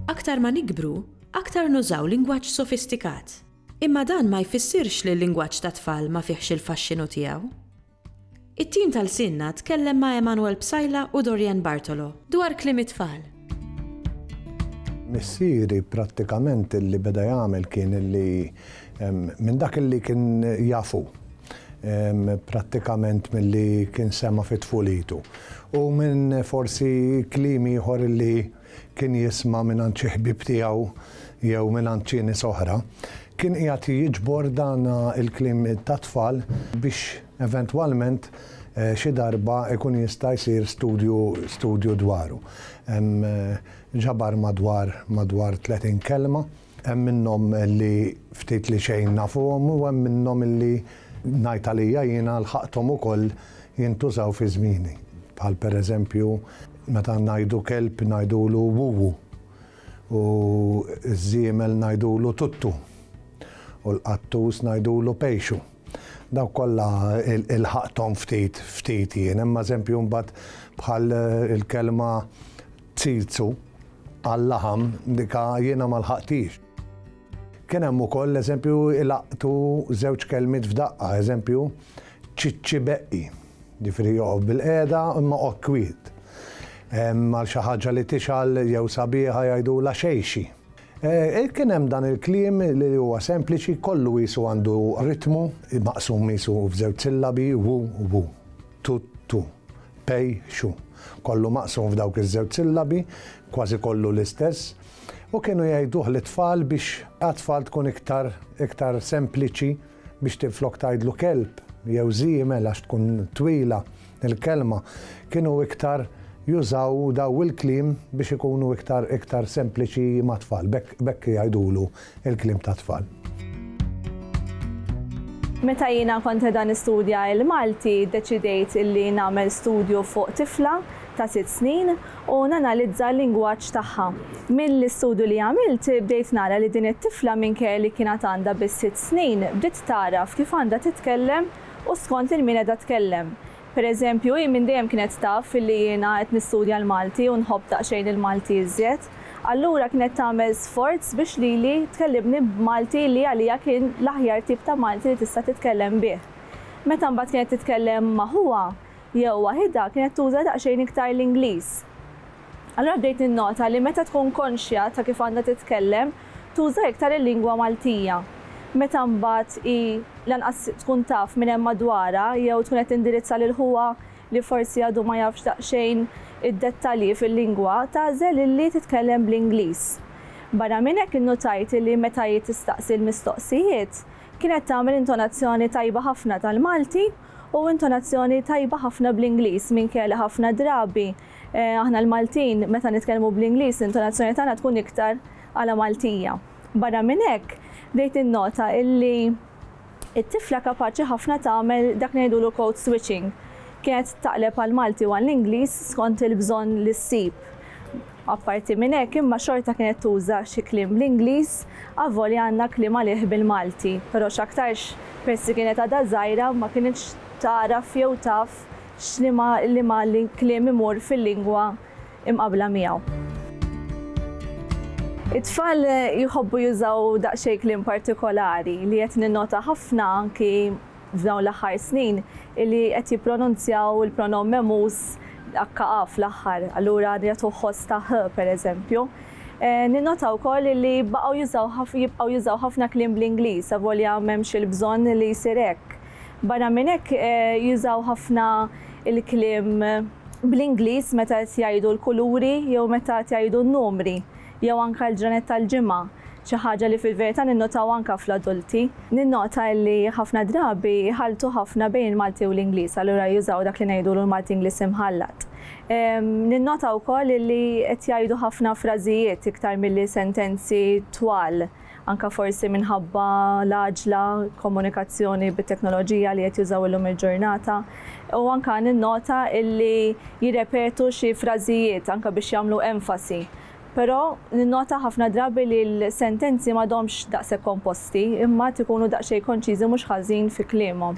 Aktar ma nikbru, aktar nużaw lingwaġġ sofistikat. Imma dan ma jfissirx li l-lingwaġġ tat-tfal ma fihx il-faxxinu tiegħu. It-tim ta' Lsienna tkellem ma' Emanuel Psaila u Dorianne Bartolo dwar kliem it-tfal. Missieri prattikament li beda jagħmel kien li minn dak li kien jaf hu, prattikament milli kien sema' fi tfulitu u minn forsi kliem ieħor li kien jisma' mingħand xi ħbieb tiegħu jew mingħand xi nies oħra, kien qiegħed jiġbor dan il-kliem tat-tfal biex eventwalment xi darba jkun jista' jsir studju studju dwaru. Ġabar madwar madwar tletin kelma, hemm minnhom li ftit li xejn nafuhom u hemm minnhom li ngħid għalija jiena lħaqthom ukoll jintużaw fi żmieni, bħal pereżempju, Meta ngħidu kelb ngħidulu wuwu, u ż-żiemel ngħidulu tuttu, u l-qattus ngħidulu pejxu. Dawk kollha lħaqthom ftit ftit jien. Hemm eżempju mbagħad bħal il-kelma tsirzu għal-laħam, dika jiena ma lħaqthiex. Kien hemm ukoll eżempju ilaqtu żewġ kelmiet f'daqqa, eżempju, ċiċċibeqqi. Jiġifieri joqgħod bilqiegħda imma oqgħod kwiet. Għal xi ħaġa li tixgħal jew sabiħa jgħidulha xejxi. Kien hemm dan il-kliem li huwa sempliċi, kollu qisu għandu ritmu, maqsum qisu f'żewġ sillabi, wu, wu, tu, tu, pej, xu. Kollu maqsum f'dawk iż-żewġ sillabi, kważi kollu l-istess. U kienu jgħiduh lit-tfal biex għat-tfal tkun iktar, iktar sempliċi. biex tinflok tgħidlu kelb jew żiemel għax tkun twila l-kelma, kienu iktar jużaw daw il-kliem biex ikunu iktar iktar sempliċi mat-tfal, b'hekk b'hekk jgħidulu l-kliem tat-tfal. Meta jiena kont qiegħda nistudja l-Malti, ddeċidejt illi nagħmel studju fuq tifla ta' sitt snin u nanalizza l-lingwaġġ tagħha. Mill-istudju li għamilt bdejt nara li din it-tifla minkejja li kienet għandha biss sitt snin bdiet tagħraf kif għandha titkellem u skont lil min qiegħda tkellem. Per eżempju, hi minn dejjem kienet taf li jiena qed nistudja l-Malti u nħobb daqsxejn il-Malti iżjed. Allura kienet tagħmel sforz biex lili tkellimni b'Malti li għaliha kien l-aħjar tip ta' Malti li tista' titkellem bih. Meta mbagħad kienet titkellem ma' ħuha, Jew waħidha kienet tuża daqsxejn iktar l-Ingliż. Allura bdejt ninnota li meta tkun konxja ta' kif għandha titkellem, tuża iktar il-lingwa Maltija. Meta mbagħad hi lanqas tkun taf min hemm madwarha jew tkun qed tindirizza lil ħuha li forsi għadu ma jafx daqsxejn id-dettalji fil-lingwa, tagħżel illi titkellem bl-Ingliż. Barra minn hekk innutajt illi meta hi tistaqsi l-mistoqsijiet, kienet tagħmel intonazzjoni tajba ħafna tal-Malti, u intonazzjoni tajba ħafna bl-Ingliż minkejja li ħafna drabi aħna l-Maltin meta nitkellmu bl-Ingliż l-intonazzjoni tagħna tkun iktar għala Maltija. Barra minn hekk, bdejt ninnota li t-tifla kapaċi ħafna tagħmel dak li ngħidulu code switching, kienet taqleb għall-Malti u għall-Ingliż skont il-bżonn li ssib. Apparti minn hekk imma xorta kienet tuża xi kliem bl-Ingliż avolja għandna kliem għalih bil-Malti, però x'aktarx peress li kienet għadha żgħira ma kinitx tagħraf jew taf x'liema liema kliem imur fil-lingwa imqabbla miegħu. It-tfal jħobbu jużaw daqsxejn kliem partikolari li qed ninnota ħafna anki f'dawn l-aħħar snin li qed jippronunzjaw il-pronomm memuż akka'a fl-aħħar, allura jagħtuh ħoss ta' h, pereżempju. Ninnota wkoll li baqgħu jużaw ħaf jibqgħu jużaw ħafna kliem bl-Ingliż avolja m'hemmx il-bżonn li jsir hekk. Barra minn hekk, jużaw ħafna l-kliem bl-Ingliż meta qed jgħidu l-kuluri jew meta qed jgħidu n-numri. jew anke l-ġranet tal-ġimgħa, xi ħaġa li fil-verità ninnotaw anke fl-adulti. Ninnota li ħafna drabi jħalltu ħafna bejn il-Malti u l-Ingliż, allura jużaw dak li ngħidulu l-Malti Ingliż imħallat. Ninnota wkoll li qed jgħidu ħafna frażijiet iktar milli sentenzi twal. anke forsi minħabba l-għaġla, komunikazzjoni bit-teknoloġija li qed jużaw illum il-ġurnata, u anke ninnota illi jirrepetu xi frażijiet anke biex jagħmlu enfasi. Però ninnota ħafna drabi li l-sentenzi m'għadhomx daqshekk komposti, imma għad ikunu daqsxejn konċiżi mhux ħażin fi kliemhom.